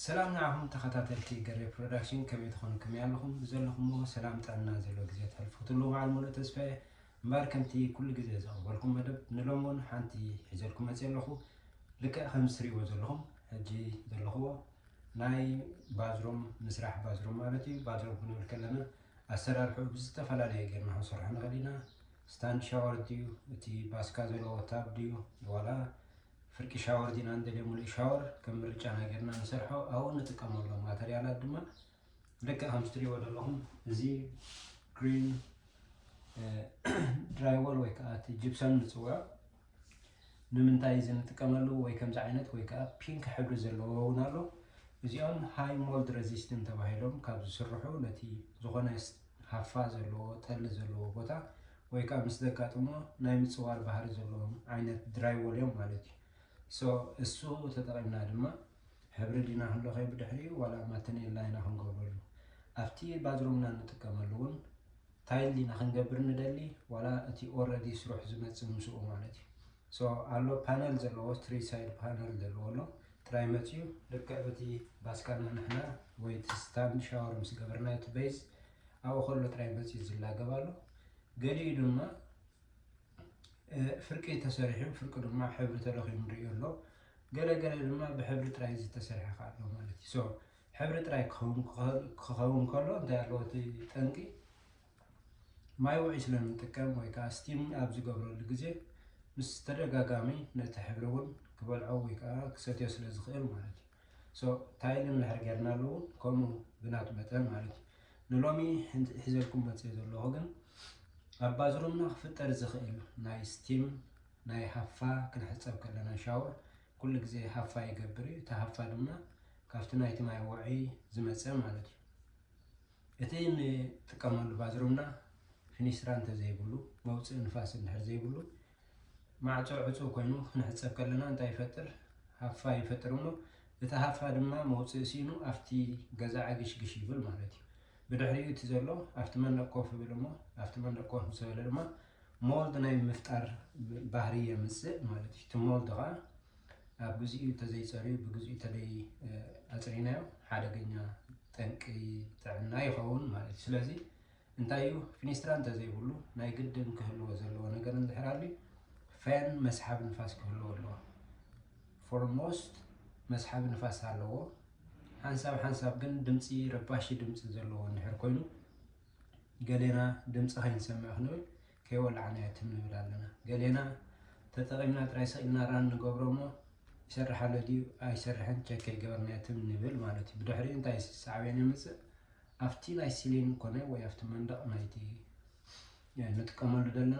ሰላም ንዓኹም ተኸታተልቲ ገሬ ፕሮዳክሽን ከመይ ትኾንክምይ ኣለኹም ብዘለኹሞ ሰላም ጥዕና ዘሎ ግዜ ተሕልፉትሉ በዓል ሙሉእ ተስፋ እየ እምበር ከምቲ ኩሉ ግዜ ዘቕርበልኩም መደብ ንሎሚ እውን ሓንቲ ሒዘልኩም መፅየ ኣለኹ ልክዕ ከም ዝትሪእዎ ዘለኹም ሕጂ ዘለኹዎ ናይ ባዝሮም ምስራሕ ባዝሮም ማለት እዩ ባዝሮም ክንብል ከለና ኣሰራርሑ ብዝተፈላለየ ጌርና ክንሰርሖ ንኽእል ኢና ስታንድ ሻወር ድዩ እቲ ባስካ ዘለዎ ታብ ድዩ ዋላ ፍርቂ ሻወር ዲና ንደልዮ ምሉእ ሻወር ከም ምርጫና ጌርና ንሰርሖ ኣብኡ ንጥቀመሎም ማተርያላት ድማ ልክዕ ከምዚ ትሪእዎ ዘለኹም እዚ ግሪን ድራይወል ወይ ከዓ እቲ ጅብሰም ንፅውዖ ንምንታይ እዚ ንጥቀመሉ ወይ ከምዚ ዓይነት ወይ ከዓ ፒንክ ሕብሪ ዘለዎ እውን ኣሎ እዚኦም ሃይ ሞልድ ረዚስትን ተባሂሎም ካብ ዝስርሑ ነቲ ዝኾነ ሃፋ ዘለዎ ጠሊ ዘለዎ ቦታ ወይ ከኣ ምስ ዘጋጥሞ ናይ ምጽዋር ባህሪ ዘለዎም ዓይነት ድራይዎል እዮም ማለት እዩ። so እሱ ተጠቒምና ድማ ሕብሪ ዲና ክንለኽዮ ብድሕሪኡ ዋላ ማተኔላ ኢና ክንገብረሉ። ኣብቲ ባዝሩምና ንጥቀመሉ እውን ታይል ዲና ክንገብር ንደሊ ዋላ እቲ ኦረዲ ስሩሕ ዝመጽእ ምስኡ ማለት እዩ። so ኣሎ ፓነል ዘለዎ ትሪ ሳይድ ፓነል ዘለዎ ኣሎ ጥራይ መፅዩ ልክዕ በቲ ባስካና ንሕና ወይ እቲ ስታንድ ሻወር ምስ ገበርና እቲ ቤዝ ኣብኡ ከሎ ጥራይ መፅዩ ዝላገብ ኣሎ ገሊኡ ድማ ፍርቂ ተሰሪሑ ፍርቂ ድማ ሕብሪ ተለኺሙ ንሪኦ ኣሎ ገለ ገለ ድማ ብሕብሪ ጥራይ ዝተሰርሐ ከዓ ኣሎ ማለት እዩ ሶ ሕብሪ ጥራይ ክኸውን ከሎ እንታይ ኣለዎ እቲ ጠንቂ ማይ ውዑይ ስለ እንጥቀም ወይ ከዓ ስቲም ኣብ ዝገብረሉ ግዜ ምስ ተደጋጋሚ ነቲ ሕብሪ እውን ክበልዖ ወይ ከዓ ክሰትዮ ስለ ዝኽእል ማለት እዩ። ሶ ታይል እንድሕር ጌርናሉ እውን ከምኡ ብናቱ መጠን ማለት እዩ። ንሎሚ ሒዘልኩም መፂኤ ዘለኹ ግን ኣብ ባዝሩምና ክፍጠር ዝኽእል ናይ ስቲም ናይ ሃፋ ክንሕፀብ ከለና ሻወር ኩሉ ግዜ ሃፋ ይገብር እዩ። እቲ ሃፋ ድማ ካብቲ ናይቲ ማይ ውዑይ ዝመፀ ማለት እዩ። እቲ ንጥቀመሉ ባዝሩምና ፊኒስትራ እንተዘይብሉ፣ መውፅኢ ንፋስ እንድሕር ዘይብሉ፣ ማዕፆ ዕፁው ኮይኑ ክንሕፀብ ከለና እንታይ ይፈጥር? ሃፋ ይፈጥር እሞ እቲ ሃፋ ድማ መውፅኢ ሲኢኑ ኣብቲ ገዛ ዕግሽግሽ ይብል ማለት እዩ። ብድሕሪኡ እቲ ዘሎ ኣብቲ መንደቕ ኮፍ ይብል እሞ ኣብቲ መንደቕ ኮፍ ምስ በለ ድማ ሞልድ ናይ ምፍጣር ባህሪ የምፅእ ማለት እዩ። እቲ ሞልድ ከዓ ኣብ ግዚኡ እንተዘይፀርዩ ብግዚኡ እንተደይ ኣፅሪናዮ ሓደገኛ ጠንቂ ጥዕና ይኸውን ማለት እዩ። ስለዚ እንታይ እዩ ፊኒስትራ እንተዘይብሉ ናይ ግድን ክህልዎ ዘለዎ ነገር እንድሕር ኣልዩ ፈን መስሓብ ንፋስ ክህልዎ ኣለዎ። ፎርሞስት መስሓብ ንፋስ ኣለዎ። ሓንሳብ ሓንሳብ ግን ድምፂ ረባሺ ድምፂ ዘለዎ እንድሕር ኮይኑ ገሌና ድምፂ ከይንሰምዕ ክንብል ከይወላዕናዮ ትም ንብል ኣለና ገሌና ተጠቒምና ጥራይ ሰቒልና ራን ንገብሮ እሞ ይሰርሕ ኣሎ ድዩ ኣይሰርሕን ቸክ ከይገበርናዮ ትም ንብል ማለት እዩ ብድሕሪኡ እንታይ ሳዕቤን የምፅእ ኣብቲ ናይ ሲሊን ኮነ ወይ ኣብቲ መንደቕ ናይቲ ንጥቀመሉ ዘለና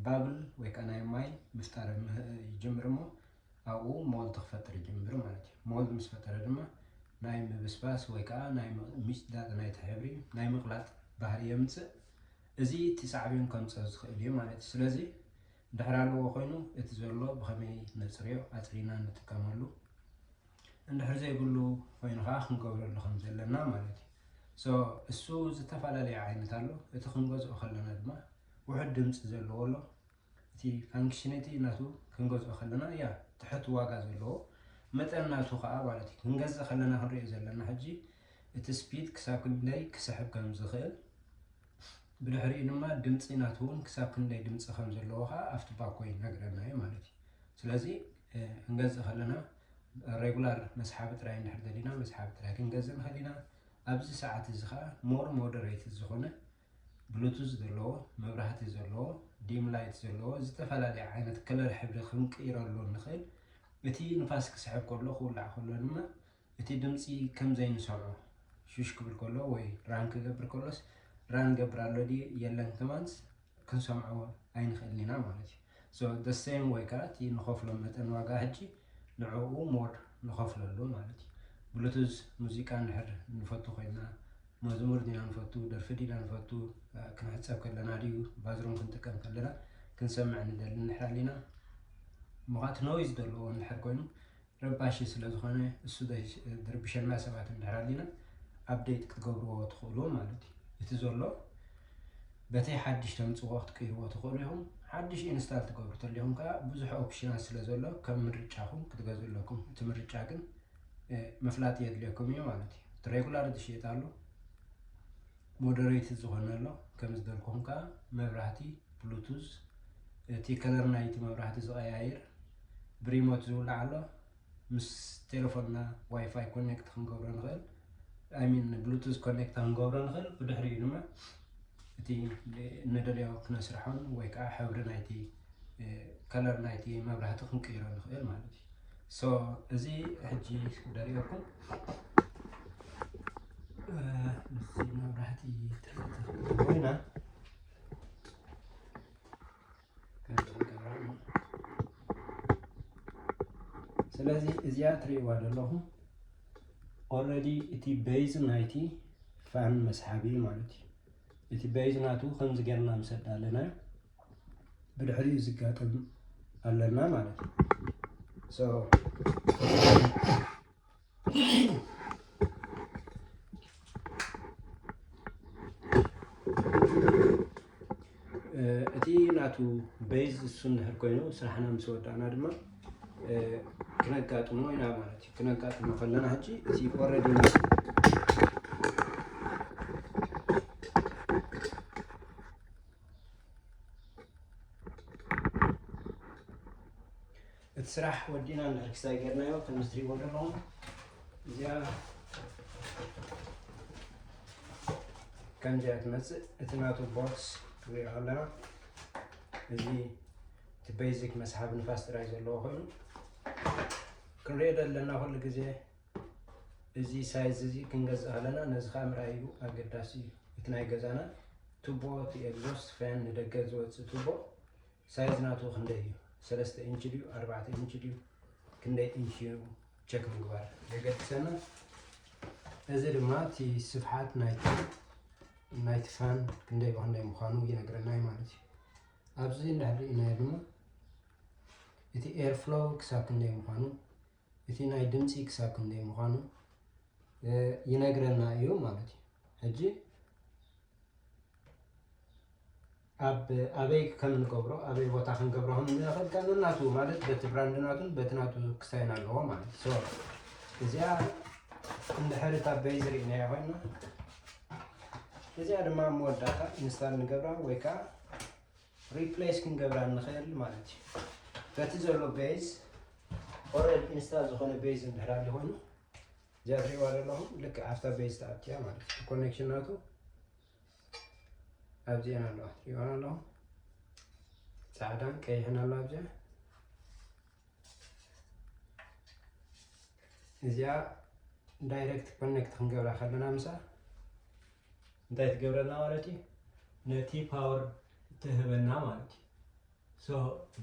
ባብል ወይ ከዓ ናይ ማይ ምፍጣር ይጅምር እሞ ኣብኡ ሞልት ክፈጥር ይጅምር ማለት እዩ ሞልት ምስ ፈጠረ ድማ ናይ ምብስባስ ወይ ከዓ ናይ ምጭዳጥ ናይቲ ሕብሪ ናይ ምቕላጥ ባህሪ የምፅእ እዚ እቲ ሳዕቤን ከምጽኦ ዝኽእል እዩ ማለት እዩ። ስለዚ እንድሕር ኣለዎ ኮይኑ እቲ ዘሎ ብኸመይ ነጽርዮ ኣጽሪና ንጥቀመሉ እንድሕር ዘይብሉ ኮይኑ ከኣ ክንገብረሉ ከም ዘለና ማለት እዩ። ሶ እሱ ዝተፈላለየ ዓይነት ኣሎ እቲ ክንገዝኦ ከለና ድማ ውሑድ ድምጺ ዘለዎ ኣሎ እቲ ፋንክሽነቲ ናቱ ክንገዝኦ ከለና እያ ትሕት ዋጋ ዘለዎ መጠን ናቱ ከኣ ማለት እዩ ክንገዝእ ከለና ክንሪኦ ዘለና ሕጂ እቲ ስፒድ ክሳብ ክንደይ ክስሕብ ከም ዝኽእል ብድሕሪኡ ድማ ድምፂ ናቱ እውን ክሳብ ክንደይ ድምፂ ከም ዘለዎ ከዓ ኣብቲ ባኮ ይነግረና እዩ ማለት እዩ ስለዚ ክንገዝእ ከለና ሬጉላር መስሓቢ ጥራይ እንድሕር ደሊና መስሓቢ ጥራይ ክንገዝእ ንኽእል ኢና ኣብዚ ሰዓት እዚ ከዓ ሞር ሞደሬት ዝኾነ ብሉቱዝ ዘለዎ መብራህቲ ዘለዎ ዲም ላይት ዘለዎ ዝተፈላለየ ዓይነት ከለር ሕብሪ ክንቅይረሉ ንኽእል እቲ ንፋስ ክስሕብ ከሎ ክውላዕ ከሎ ድማ እቲ ድምፂ ከም ዘይንሰምዖ ሹሽ ክብል ከሎ ወይ ራን ክገብር ከሎስ ራን ገብር ኣሎ ድዩ የለን ከማንስ ክንሰምዖ ኣይንኽእልን ኢና ማለት እዩ So the same way ከኣ እቲ ንኸፍሎ መጠን ዋጋ ሕጂ ንዕኡ more ንኸፍለሉ ማለት እዩ። ብሉቱዝ ሙዚቃ እንድሕር ንፈቱ ኮይና፣ መዝሙር ዲና ንፈቱ፣ ደርፊ ዲና ንፈቱ፣ ክንሕጸብ ከለና ድዩ ባዝሩም ክንጥቀም ከለና ክንሰምዕ ንደሊ እንድሕር ኣሊና፣ እሞ ከኣ እቲ ኖይዝ ዘለዎ እንድሕር ኮይኑ፣ ረባሺ ስለዝኾነ እሱ ድርብሸና ሰባት እንድሕር ኣሊና ኣብደይት ክትገብርዎ ትኽእሉ ማለት እዩ እቲ ዘሎ በተይ ሓድሽ ተምፅዎ ክትቅይርዎ ትኽእሉ ኢኹም ሓድሽ ኢንስታል ትገብሩ ተሊኹም ከዓ ብዙሕ ኦፕሽናት ስለዘሎ ከም ምርጫኹም ክትገዝኡ ኣለኩም እቲ ምርጫ ግን ምፍላጥ የድልየኩም እዩ ማለት እዩ እቲ ሬጉላር ዝሽየጥ ኣሎ ሞደረይት ዝኾነ ኣሎ ከም ዝበልኩም ከኣ መብራህቲ ብሉቱዝ እቲ ከለር ናይቲ መብራህቲ ዝቐያይር ብሪሞት ዝውላዕ ኣሎ ምስ ቴለፎንና ዋይፋይ ኮኔክት ክንገብሮ ንኽእል ኣይሚን ብሉቱዝ ኮኔክት ክንገብሮ ንኽእል ብድሕሪኡ ድማ እቲ ንደልዮ ክነስርሖን ወይ ከዓ ሕብሪ ናይቲ ከለር ናይቲ መብራህቲ ክንቅይሮ ንኽእል ማለት So እዚ ሕጂ ደርእየኩም ምስዚ መብራህቲ ኮይና ስለዚ እዚኣ ትርእይዋ ዘለኹም ኦልሬዲ እቲ ቤዝ ናይቲ ፋን መስሓቢ ማለት እዩ እቲ ቤዝ ናቱ ከምዚ ጌርና ምስ ኣዳለናዮ ብድሕሪኡ ዝጋጠም ኣለና ማለት እዩ እቲ ናቱ በይዝ እሱ እንድሕር ኮይኑ ስራሕና ምስ ወዳእና ድማ ክነጋጥሞ ኢና ማለት እዩ ክነጋጥሞ ከለና ሕጂ እቲ ኦረዲ እቲ ስራሕ ወዲእና ንርክሳይ ገርናዮ ከምዚ ትሪእዎ ኣለኹም እዚኣ ከምዚኣ ትመፅእ እቲ ናቱ ቦክስ ትሪኦ ኣለና እዚ እቲ ቤዚክ መስሓብ ንፋስ ጥራይ ዘለዎ ኮይኑ ክንሪኦ ዘለና ኩሉ ግዜ እዚ ሳይዝ እዚ ክንገዝእ ከለና ነዚ ከዓ ምርኣይ ኢሉ ኣገዳሲ እዩ እቲ ናይ ገዛና ቱቦ እቲ ኤግዞስት ፈን ንደገ ዝወፅእ ቱቦ ሳይዝ ናቱ ክንደይ እዩ ሰለስተ ኢንች ድዩ ኣርባዕተ ኢንች ድዩ ክንደይ ኢንች እዩ ቸክ ምግባር የገድሰና እዚ ድማ እቲ ስፍሓት ናይቲ ናይቲ ፋን ክንደይ ብክንደይ ምዃኑ ይነግረና እዩ ማለት እዩ ኣብዚ እንዳህሪእናዮ ድማ እቲ ኤርፍሎው ክሳብ ክንደይ ምዃኑ እቲ ናይ ድምጺ ክሳብ ክንደይ ምዃኑ ይነግረና እዩ ማለት እዩ። ሕጂ ኣብ ኣበይ ከም ንገብሮ ኣበይ ቦታ ክንገብሮ ከም ንኽእል ከ ነናቱ ማለት በቲ ብራንድ ናቱን በቲ ናቱ ክሳይን ኣለዎ ማለት እዩ። ሶ እዚኣ እንድሕር እታ በይዝ ርኢናያ ኮይና እዚኣ ድማ መወዳእታ ኢንስታል ንገብራ ወይ ከዓ ሪፕሌስ ክንገብራ ንኽእል ማለት እዩ በቲ ዘሎ ቤዝ ኦረድ ኢንስታል ዝኾነ ቤዝ እንድሕር ኣሎ ኮይኑ እዚኣ ትሪእዋ ዘለኹም ልክዕ ኣብታ ቤዝ ተኣትያ ማለት እዩ ኮኔክሽን ናቱ ኣብዚአን ኣለዋ ትሪእዋን ኣለኹም ፃዕዳን ቀይሕን ኣሎ ኣብዚኣ እዚኣ ዳይረክት ኮኔክት ክንገብራ ከለና ምሳ እንታይ ትገብረና ማለት እዩ ነቲ ፓወር ትህበና ማለት እዩ ሶ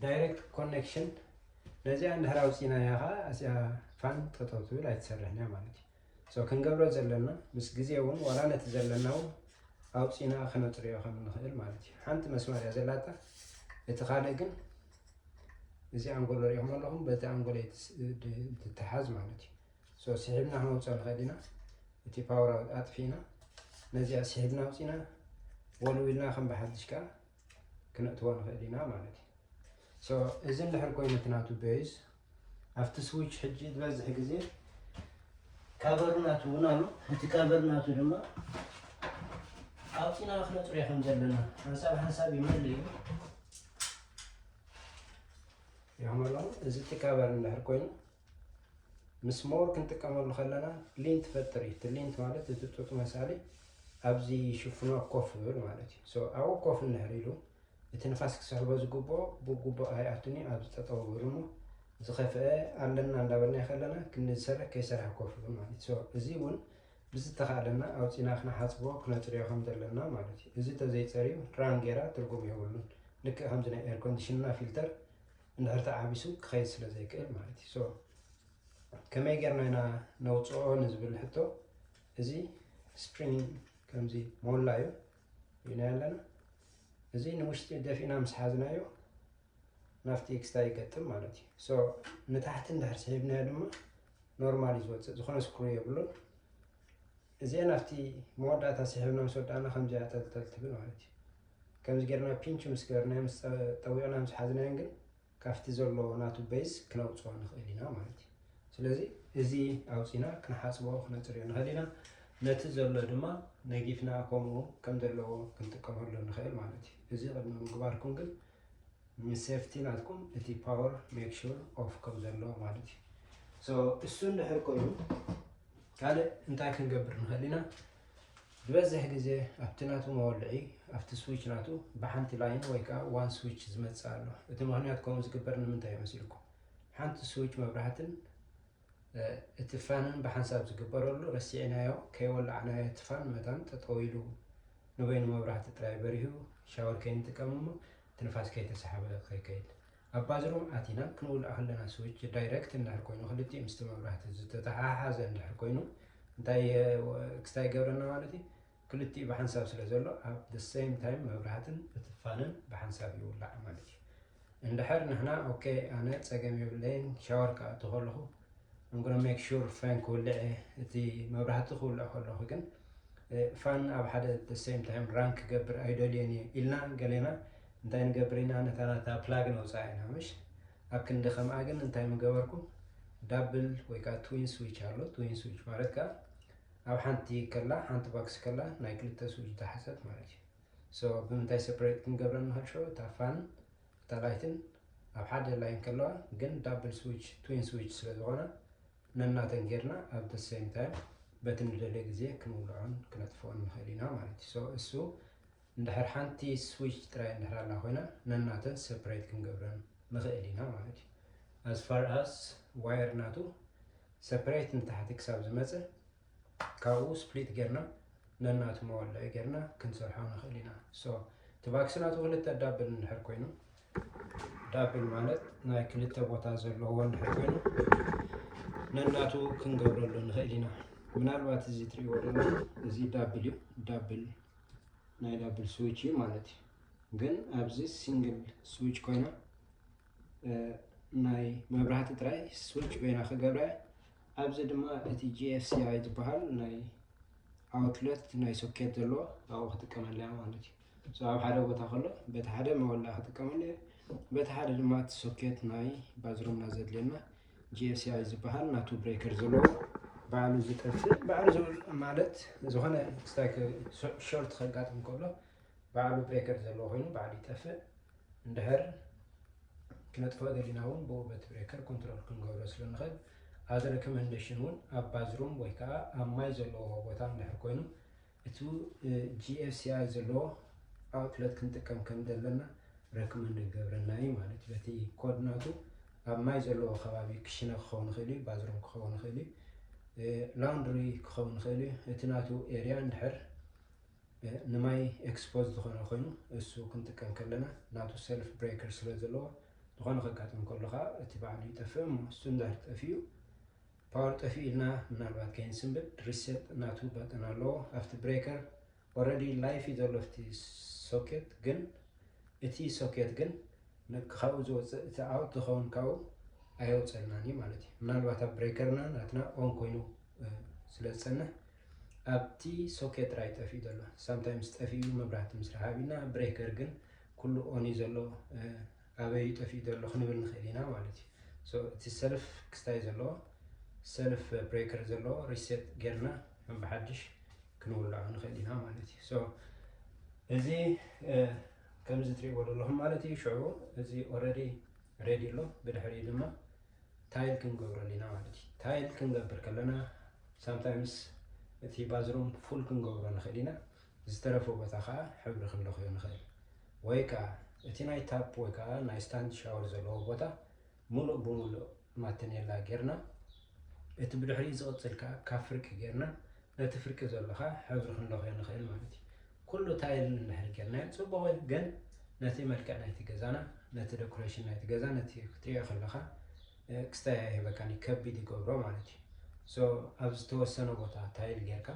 ዳይረክት ኮኔክሽን ነዚኣ እንድሕር ኣውፂእናያ ከዓ እዚኣ ፋን ጠጠው ትብል ኣይትሰርሕን እያ ማለት እዩ so ክንገብሮ ዘለና ምስ ግዜ ውን ዋላ ነቲ ዘለና ውን ኣውጺና ክነጽርዮ ከም ንኽእል ማለት እዩ ሓንቲ መስማር እያ ዘላታ እቲ ካልእ ግን እዚ ኣንጎሎ ሪኢኹም ኣለኹም በቲ ኣንጎሎ ትተሓዝ ማለት እዩ ሶ ስሒብና ክነውፅኦ ንኽእል ኢና እቲ ፓወር ኣጥፊእና ነዚኣ ስሒብና ኣውፂና ወልዊልና ከም ብሓድሽ ከዓ ክነእትዎ ንኽእል ኢና ማለት እዩ ሶ እዚ እንድሕር ኮይኑ እቲ ናቱ ቤዝ ኣብቲ ስዊች ሕጂ ዝበዝሕ ግዜ ካቨር ናቱ እውን ኣሎ እቲ ካቨር ናቱ ድማ ኣውፂና ክነፅርዮ ከም ዘለና ሓንሳብ ሓንሳብ ይመል እዩ ይኸመሎ እዚ እቲ ካቨር እንድሕር ኮይኑ ምስ ሞር ክንጥቀመሉ ከለና ሊንት ፈጥር እዩ እቲ ሊንት ማለት እቲ ጡጥ መሳሊ ኣብዚ ሽፍኖ ኮፍ ይብል ማለት እዩ ኣብኡ ኮፍ እንድሕር ኢሉ እቲ ንፋስ ክስሕቦ ዝግብኦ ብግቡእ ኣይኣቱን እዩ ኣብ ዝጠጠው ይብል እሞ ዝኸፍአ ኣለና እንዳበልናዮ ከለና ክንዲ ዝሰርሕ ከይሰርሐ ኮፍ ይብል ማለት እዩ እዚ እውን ብዝተኻእለና ኣውፂና ክነሓፅቦ ክነፅርዮ ከም ዘለና ማለት እዩ እዚ ተዘይፀርዩ ራን ጌራ ትርጉም የብሉን ልክእ ከምዚ ናይ ኤር ኮንዲሽንና ፊልተር እንድሕር ተዓቢሱ ክኸይድ ስለ ዘይክእል ማለት እዩ። ሶ ከመይ ጌርና ኢና ነውፅኦ ንዝብል ሕቶ እዚ ስፕሪንግ ከምዚ ሞላ እዩ ኢልና ኣለና። እዚ ንውሽጢ ደፊእና ምስ ሓዝናዮ ናብቲ ኤክስታ ይገጥም ማለት እዩ። ሶ ንታሕቲ እንድሕር ስሒብናዮ ድማ ኖርማል እዩ ዝወፅእ፣ ዝኾነ ስክሩ የብሉን። እዚኣን ኣብቲ መወዳእታ ስሒብና ምስ ወዳእና ከምዚ እያ ጠልጠል ትብል ማለት እዩ። ከምዚ ጌርና ፒንች ምስ ገበርናዮ ምስ ጠዊቕና ምስ ሓዝናዮን ግን ካብቲ ዘሎ ናቱ በይዝ ክነውጽኦ ንኽእል ኢና ማለት እዩ። ስለዚ እዚ ኣውጺና ክንሓጽቦ ክነጽርዮ ንኽእል ኢና። ነቲ ዘሎ ድማ ነጊፍና ከምኡ ከም ዘለዎ ክንጥቀመሉ ንኽእል ማለት እዩ። እዚ ቅድሚ ምግባርኩም ግን ንሴፍቲ ናትኩም እቲ ፓወር ሜክ ሹር ኦፍ ከም ዘሎ ማለት እዩ ሶ እሱ እንድሕር ኮይኑ ካልእ እንታይ ክንገብር ንኽእል ኢና ዝበዝሕ ግዜ ኣብቲ ናቱ መወልዒ ኣብቲ ስዊች ናቱ ብሓንቲ ላይን ወይ ከዓ ዋን ስዊች ዝመፅእ ኣሎ እቲ ምክንያት ከምኡ ዝግበር ንምንታይ እዩ መሲልኩም ሓንቲ ስዊች መብራህትን እቲ ፋን ብሓንሳብ ዝግበረሉ ረሲዕናዮ ከይወላዕናዮ እቲ ፋን መታን ጠጠው ኢሉ ንበይኑ መብራህቲ ጥራይ በሪሁ ሻወር ከይንጥቀም እሞ እቲ ንፋስ ከይተሳሕበ ከይከይድ ኣብ ባዝሩም ኣቲና ክንውልዕ ከለና ስዊች ዳይረክት እንድሕር ኮይኑ ክልቲኡ ምስቲ መብራህቲ ዝተተሓሓዘ እንድሕር ኮይኑ እንታይ ክስታይ ይገብረና ማለት እዩ ክልቲኡ ብሓንሳብ ስለ ዘሎ ኣብ the same time መብራህትን እቲ ፋንን ብሓንሳብ ይውላዕ ማለት እዩ። እንድሕር ንሕና ኦኬ ኣነ ጸገም የብለይን ሻወር ክኣቱ ከለኹ I'm gonna make sure ፋን ክውልዕ እየ እቲ መብራህቲ ክውልዕ ከለኹ ግን ፋን ኣብ ሓደ the same time ራን ክገብር ኣይደልየን እየ ኢልና ገሌና እንታይ ንገብር ኢና ነታ ናታ ፕላግ ነውፅኣ ኢና ምሽ ኣብ ክንዲ ከምኣ ግን እንታይ ምገበርኩም ዳብል ወይ ከዓ ትዊን ስዊች ኣሎ ትዊን ስዊች ማለት ከዓ ኣብ ሓንቲ ከላ ሓንቲ ባክስ ከላ ናይ ክልተ ስብ ዝታሓሰት ማለት እዩ so ብምንታይ ሰፕሬት ክንገብረን ንክልሾ እታ ፋን እታ ላይትን ኣብ ሓደ ላይን ከለዋ ግን ዳብል ስዊች ትዊን ስዊች ስለ ዝኮና ነናተን ጌርና ኣብ the same time በቲ ንደልዮ ግዜ ክንውልዖን ክነጥፍኦን ንክእል ኢና ማለት እዩ so እሱ እንድሕር ሓንቲ ስዊች ጥራይ እንድሕር ኣላ ኮይና ነናተን ሰፕሬት ክንገብረን ንኽእል ኢና ማለት እዩ። ኣዝ ፋር ኣዝ ዋየር ናቱ ሰፕሬት ንታሕቲ ክሳብ ዝመፀ ካብኡ ስፕሊት ጌርና ነናቱ መወልዒ ጌርና ክንሰርሖ ንኽእል ኢና። ሶ እቲ ባክሲ ናቱ ክልተ ዳብል እንድሕር ኮይኑ ዳብል ማለት ናይ ክልተ ቦታ ዘለዎ እንድሕር ኮይኑ ነናቱ ክንገብረሉ ንኽእል ኢና። ምናልባት እዚ ትሪእዎ ደለኹም እዚ ዳብል እዩ ዳብል ናይ ዳብል ስዊች እዩ ማለት እዩ ግን ኣብዚ ሲንግል ስዊች ኮይና ናይ መብራህቲ ጥራይ ስዊች ኮይና ክገብረ ኣብዚ ድማ እቲ ጂኤፍሲኣይ ዝበሃል ናይ ኣውትለት ናይ ሶኬት ዘለዎ ኣብኡ ክጥቀመለ እያ ማለት እዩ ኣብ ሓደ ቦታ ከሎ በቲ ሓደ መወላ ክጥቀመለ እዩ በቲ ሓደ ድማ እቲ ሶኬት ናይ ባዝሩምና ዘድልየና GSI ዝበሃል ናቱ ብሬከር ዘለዎ ባዕሉ ዝጠፍእ ባዕሉ ማለት ዝኾነ ስታይክ ሾርት ከጋጥም ከሎ ባዕሉ ብሬከር ዘለዎ ኮይኑ ባዕሉ ይጠፍእ እንድሕር ክነጥፎ ገዲና እውን ብኡ በቲ ብሬከር ኮንትሮል ክንገብሮ ስለንኽእል ኣብዚ ሬኮመንዴሽን እውን ኣብ ባዝሩም ወይ ከዓ ኣብ ማይ ዘለዎ ቦታ እንድሕር ኮይኑ እቱ GFCI ዘለዎ ኣውትለት ክንጥቀም ከም ዘለና ረክመንድ ክገብረና እዩ ማለት እዩ። በቲ ኮድ ናቱ ኣብ ማይ ዘለዎ ከባቢ ክሽነ ክኸውን ይኽእል እዩ፣ ባዝሩም ክኸውን ይኽእል እዩ፣ ላውንድሪ ክኸውን ይኽእል እዩ። እቲ ናቱ ኤሪያ እንድሕር ንማይ ኤክስፖዝ ዝኾነ ኮይኑ እሱ ክንጥቀም ከለና ናቱ ሰልፍ ብሬከር ስለ ዘለዎ ዝኾነ ከጋጥም ከሎ ከዓ እቲ በዓሉ ይጠፍእ እሞ ስቱንዳርድ ጠፊኡ ፓወር ጠፊኡልና ምናልባት ከይንስንብድ ሪሰት ናቱ በተን ኣለዎ ኣብቲ ብሬከር ኦረዲ ላይፍ እዩ ዘሎ ኣብቲ ሶኬት ግን እቲ ሶኬት ግን ካብኡ ዝወፅእ እቲ ኣውት ዝኸውን ካብኡ ኣየውፀልናን እዩ ማለት እዩ ምናልባት ኣብ ብሬከርና ናትና ኦን ኮይኑ ስለ ዝፀንሕ ኣብቲ ሶኬት ጥራይ ጠፊኡ ዘሎ ሳምታይምስ ጠፊኡ መብራህቲ ምስ ረሃቢና ብሬከር ግን ኩሉ ኦን እዩ ዘሎ ኣበይ እዩ ጠፊኡ ዘሎ ክንብል ንኽእል ኢና ማለት እዩ። ሶ እቲ ሰልፍ ክስታይ ዘለዎ ሰልፍ ብሬከር ዘለዎ ሪሴት ጌርና ከም ብሓድሽ ክንውልዖ ንኽእል ኢና ማለት እዩ። ሶ እዚ ከምዚ ትሪእዎ ዘለኹም ማለት እዩ። ሽዑ እዚ ኦልሬዲ ሬዲ ኣሎ። ብድሕሪ ድማ ታይል ክንገብረሉ ኢና ማለት እዩ። ታይል ክንገብር ከለና ሳምታይምስ እቲ ባዝሩም ፉል ክንገብሮ ንኽእል ኢና። ዝተረፈ ቦታ ከኣ ሕብሪ ክንለኽዮ ንኽእል። ወይ ከኣ እቲ ናይ ታፕ ወይ ከኣ ናይ ስታንድ ሻወር ዘለዎ ቦታ ምሉእ ብምሉእ ማተኔላ ጌርና እቲ ብድሕሪኡ ዝቕጽል ከኣ ካብ ፍርቂ ጌርና ነቲ ፍርቂ ዘሎ ከኣ ሕብሪ ክንለኽዮ ንኽእል ማለት እዩ። ኩሉ ታይል እንድሕር ጌርናዮ ጽቡቕ እዩ ግን ነቲ መልክዕ ናይቲ ገዛና ነቲ ደኩሬሽን ናይቲ ገዛ ነቲ ክትሪኦ ከለኻ ክስታይ ኣይህበካን እዩ ከቢድ ይገብሮ ማለት እዩ። ሶ ኣብ ዝተወሰነ ቦታ ታይል ጌርካ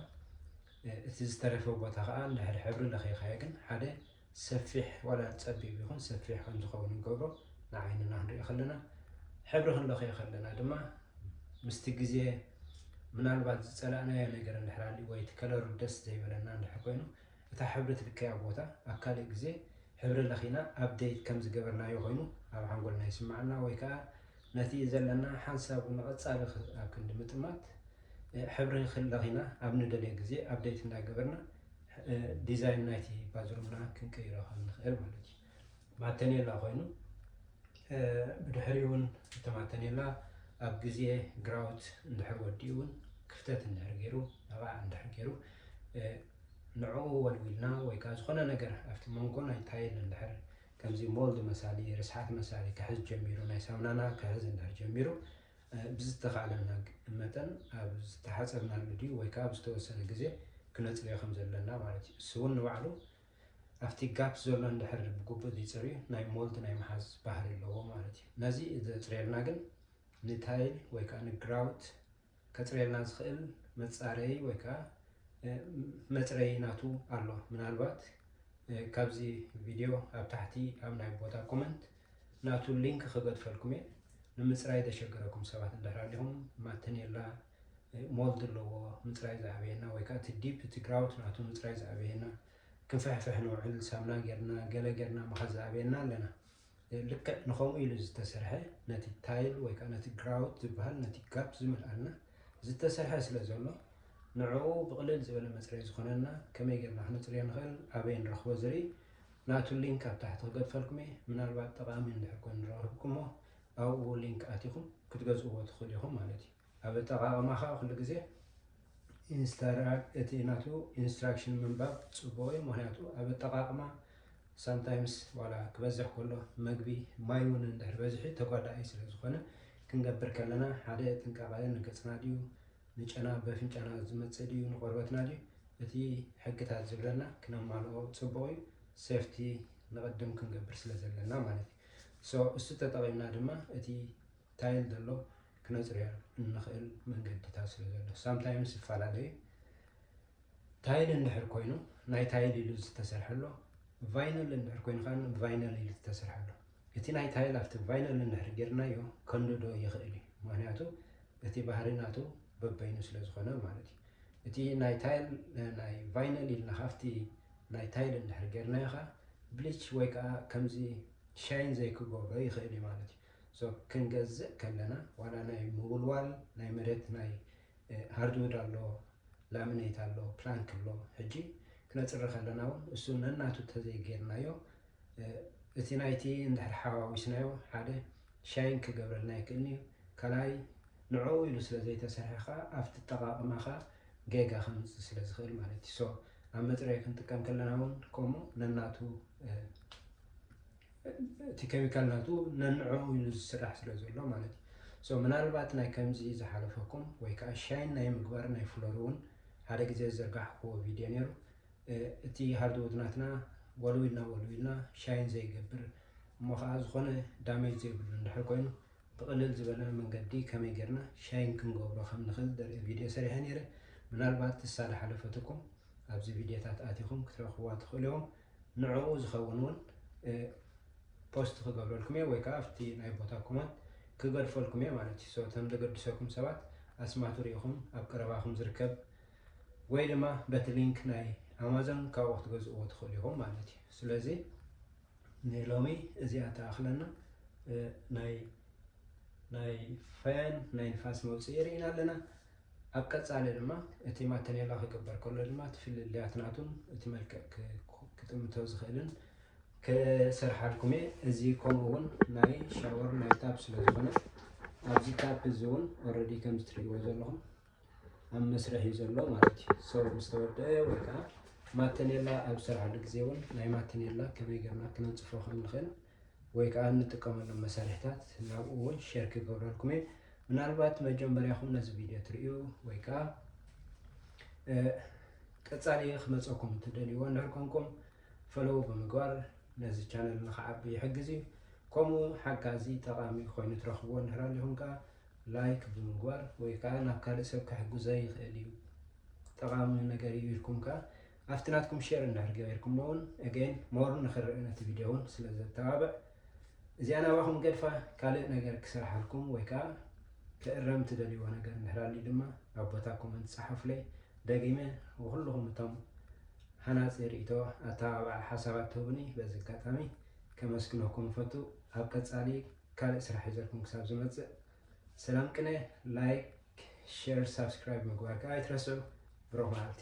እቲ ዝተረፈ ቦታ ከኣ እንድሕር ሕብሪ ለኺኻዮ ግን ሓደ ሰፊሕ ዋላ ጸቢብ ይኹን ሰፊሕ ከም ዝኸውን ንገብሮ ንዓይንና ክንሪኦ ከለና ሕብሪ ክንለኽዮ ከለና ድማ ምስቲ ግዜ ምናልባት ዝጸላእናዮ ነገር እንድሕር ኣልዩ ወይ እቲ ከለሩ ደስ ዘይበለና እንድሕር ኮይኑ እታ ሕብሪ ትልከያ ቦታ ኣብ ካልእ ግዜ ሕብሪ ለኺና ኣብደይት ከም ዝገበርናዮ ኮይኑ ኣብ ሓንጎልና ይስምዓና ወይ ከኣ ነቲ ዘለና ሓንሳብ ንቐጻሊ ኣብ ክንዲ ምጥማት ሕብሪ ክለኺና ኣብ ንደልዮ ግዜ ኣፕደይት እንዳገበርና ዲዛይን ናይቲ ባዝሩምና ክንቅይሮ ከም ንኽእል ማለት እዩ። ማተኔላ ኮይኑ ብድሕሪኡ እውን እቲ ማተኔላ ኣብ ግዜ ግራውት እንድሕር ወዲኡ እውን ክፍተት እንድሕር ገይሩ ኣባዕ እንድሕር ገይሩ ንዕኡ ወልዊልና ወይ ከዓ ዝኾነ ነገር ኣብቲ መንጎ ናይ ታይል እንድሕር ከምዚ ሞልድ መሳሊ፣ ርስሓት መሳሊ ክሕዝ ጀሚሩ፣ ናይ ሳምናና ክሕዝ እንድሕር ጀሚሩ፣ ብዝተኻእለና መጠን ኣብ ዝተሓጸብናሉ ድዩ ወይ ከኣ ኣብ ዝተወሰነ ግዜ ክነጽርዮ ከም ዘለና ማለት እዩ። እሱውን ንባዕሉ ኣብቲ ጋፕ ዘሎ እንድሕር ብግቡእ ዘይጸርዩ ናይ ሞልድ ናይ ምሓዝ ባህሪ ኣለዎ ማለት እዩ። ነዚ ዘጽርየልና ግን ንታይል ወይ ከኣ ንግራውት ከጽርየልና ዝኽእል መጻረዪ ወይ ከኣ መጽረዪ ናቱ ኣሎ። ምናልባት ካብዚ ቪድዮ ኣብ ታሕቲ ኣብ ናይ ቦታ ኮመንት ናቱ ሊንክ ክገድፈልኩም እየ። ንምጽራይ ዘሸገረኩም ሰባት እንድሕር ኣሊኹም ማተኔላ ሞልድ ኣለዎ ምፅራይ ዝኣበየና ወይ ከዓ እቲ ዲፕ እቲ ግራውት ናቱ ምፅራይ ዝኣበየና ክንፍሕፍሕ ንውዕል ሳምና ጌርና ገለ ጌርና ምኻድ ዝኣበየና ኣለና ልክዕ ንኸምኡ ኢሉ ዝተሰርሐ ነቲ ታይል ወይ ከኣ ነቲ ግራውት ዝበሃል ነቲ ጋፕ ዝመልኣልና ዝተሰርሐ ስለ ዘሎ ንዕኡ ብቕልል ዝበለ መጽረይ ዝኾነና ከመይ ጌርና ክነጽርዮ ንኽእል ኣበይ ንረኽቦ ዝርኢ ናቱ ሊንክ ኣብ ታሕቲ ክገድፈልኩም እየ ምናልባት ጠቓሚ እንድሕር ኮይኑ ረኽብኩሞ ኣብኡ ሊንክ ኣቲኹም ክትገዝእዎ ትኽእሉ ኢኹም ማለት እዩ። ኣብ ኣጠቓቕማ ከኣ ኩሉ ግዜ ኢንስታራ እቲ ናቱ ኢንስትራክሽን ምንባብ ጽቡቕ እዩ ምኽንያቱ ኣብ ኣጠቓቕማ ሳምታይምስ ዋላ ክበዝሕ ከሎ መግቢ ማይ እውን እንድሕር በዝሒ ተጓዳኢ ስለ ዝኾነ ክንገብር ከለና ሓደ ጥንቃቐ ንገጽና ድዩ ንጨና በፍንጫና ዝመጽእ ድዩ ንቆርበትና ድዩ እቲ ሕግታት ዝብለና ክነማልኦ ጽቡቕ እዩ ሴፍቲ ንቕድም ክንገብር ስለ ዘለና ማለት እዩ ሶ እሱ ተጠቒምና ድማ እቲ ታይል ዘሎ ክነጽርያ እንኽእል መንገድታት ስለ ዘሎ ሳምታይምስ ይፈላለ እዩ። ታይል እንድሕር ኮይኑ ናይ ታይል ኢሉ ዝተሰርሐ ኣሎ፣ ቫይነል እንድሕር ኮይኑ ከኣ ቫይነል ኢሉ ዝተሰርሐ ኣሎ። እቲ ናይ ታይል ኣብቲ ቫይነል እንድሕር ጌርናዮ ከንድዶ ይኽእል እዩ፣ ምኽንያቱ እቲ ባህሪ ናቱ በበይኑ ስለ ዝኾነ ማለት እዩ። እቲ ናይ ታይል ናይ ቫይነል ኢልና ካብቲ ናይ ታይል እንድሕር ጌርናዮ ከኣ ብሊች ወይ ከኣ ከምዚ ሻይን ዘይክገብሮ ይኽእል እዩ ማለት እዩ። So ክንገዝእ ከለና ዋላ ናይ ምውልዋል ናይ መሬት ናይ ሃርድውድ ኣሎ ላሚነይት ኣሎ ፕላንክ ኣሎ ሕጂ ክነጽሪ ከለና እውን እሱ ነናቱ ተዘይጌርናዮ እቲ ናይቲ እንድሕር ሓዋዊስናዮ ሓደ ሻይን ክገብረልና ይክእል እዩ ካልኣይ ንዕኡ ኢሉ ስለ ዘይተሰርሐ ከዓ ኣብቲ ጠቃቅማኻ ጌጋ ከምፅእ ስለ ዝኽእል ማለት እዩ ሶ ኣብ መፅረይ ክንጥቀም ከለና እውን ከምኡ ነናቱ እቲ ኬሚካል ናቱ ነንዕኡ ኢሉ ዝስራሕ ስለ ዘሎ ማለት እዩ። ሶ ምናልባት ናይ ከምዚ ዝሓለፈኩም ወይ ከኣ ሻይን ናይ ምግባር ናይ ፍሎር እውን ሓደ ግዜ ዝዘርጋሕክዎ ቪድዮ ነይሩ እቲ ሃርድውድ ናትና ወልዊልና ወልዊልና ሻይን ዘይገብር እሞ ከኣ ዝኾነ ዳሜጅ ዘይብሉ እንድሕር ኮይኑ ብቕልል ዝበለ መንገዲ ከመይ ጌርና ሻይን ክንገብሮ ከም ንኽእል ዘርኢ ቪድዮ ሰሪሐ ነይረ ምናልባት እሳ ዝሓለፈትኩም ኣብዚ ቪድዮታት ኣቲኹም ክትረኽብዋ ትኽእሉ ኢኹም። ንዕኡ ዝኸውን እውን ፖስት ክገብረልኩም እየ ወይ ከዓ ኣብቲ ናይ ቦታ ኮመንት ክገድፈልኩም እየ ማለት እዩ። ሶ እቶም ዘገድሰኩም ሰባት ኣስማቱ ርኢኹም ኣብ ቀረባኹም ዝርከብ ወይ ድማ በቲ ሊንክ ናይ ኣማዞን ካብኡ ክትገዝእዎ ትኽእሉ ኢኹም ማለት እዩ። ስለዚ ንሎሚ እዚኣ ትኣኽለና ናይ ናይ ፈን ናይ ንፋስ መውፅኢ ርኢና ኣለና። ኣብ ቀጻሊ ድማ እቲ ማተኔላ ክግበር ከሎ ድማ እቲ ፍልልያት ናቱን እቲ መልክዕ ክጥምቶ ዝኽእልን ክሰርሓልኩም እየ። እዚ ከምኡ ውን ናይ ሻወር ናይ ታፕ ስለ ዝኾነ ኣብዚ ታፕ እዚ ውን ኦረዲ ከምዚ ትርእይዎ ዘለኹም ኣብ መስርሕ እዩ ዘሎ ማለት እዩ። ሰው ምስ ተወደአ ወይ ከዓ ማተኔላ ኣብ ዝሰርሓሉ ግዜ ውን ናይ ማተኔላ ከመይ ገርና ክነንጽፎ ከም ንኽእል ወይ ከኣ እንጥቀመሎም መሳርሒታት ናብኡ እውን ሼር ክገብረልኩም እየ ምናልባት መጀመርያኹም ነዚ ቪድዮ ትርእዩ ወይ ከኣ ቀጻሊ ክመፀኩም እትደልይዎ እንድሕር ኮንኩም ፈለዉ ብምግባር ነዚ ቻነል ንክዓቢ ይሕግዝ እዩ ከምኡ ሓጋዚ ጠቓሚ ኮይኑ ትረኽብዎ እንድሕር ኣሊኹም ከዓ ላይክ ብምግባር ወይ ከዓ ናብ ካልእ ሰብ ክሕግዞ ይኽእል እዩ ጠቓሚ ነገር እዩ ኢልኩም ከዓ ኣብቲ ናትኩም ሼር እንድሕር ገበርኩሞ እውን ኣገይን ሞር ንክረእ ነቲ ቪድዮ እውን ስለ ዘተባብዕ እዚኣ ናባኹም ገድፋ ካልእ ነገር ክሰርሓልኩም ወይ ከዓ ክእረም ትደልይዎ ነገር እንድሕር ኣልዩ ድማ ኣብ ቦታ ኮመንት ፀሓፉለይ ደጊመ ንኹልኹም እቶም ሃናፂ ርእይቶ ኣተባባዕ ሓሳባት ትህቡኒ በዚ ኣጋጣሚ ከመስግነኩም እፈቱ ኣብ ቀፃሊ ካልእ ስራሕ ሒዘልኩም ክሳብ ዝመፅእ ሰላም ቅነ ላይክ ሼር ሳብስክራይብ ምግባር ከዓ ኣይትረስዑ ብሩኽ መዓልቲ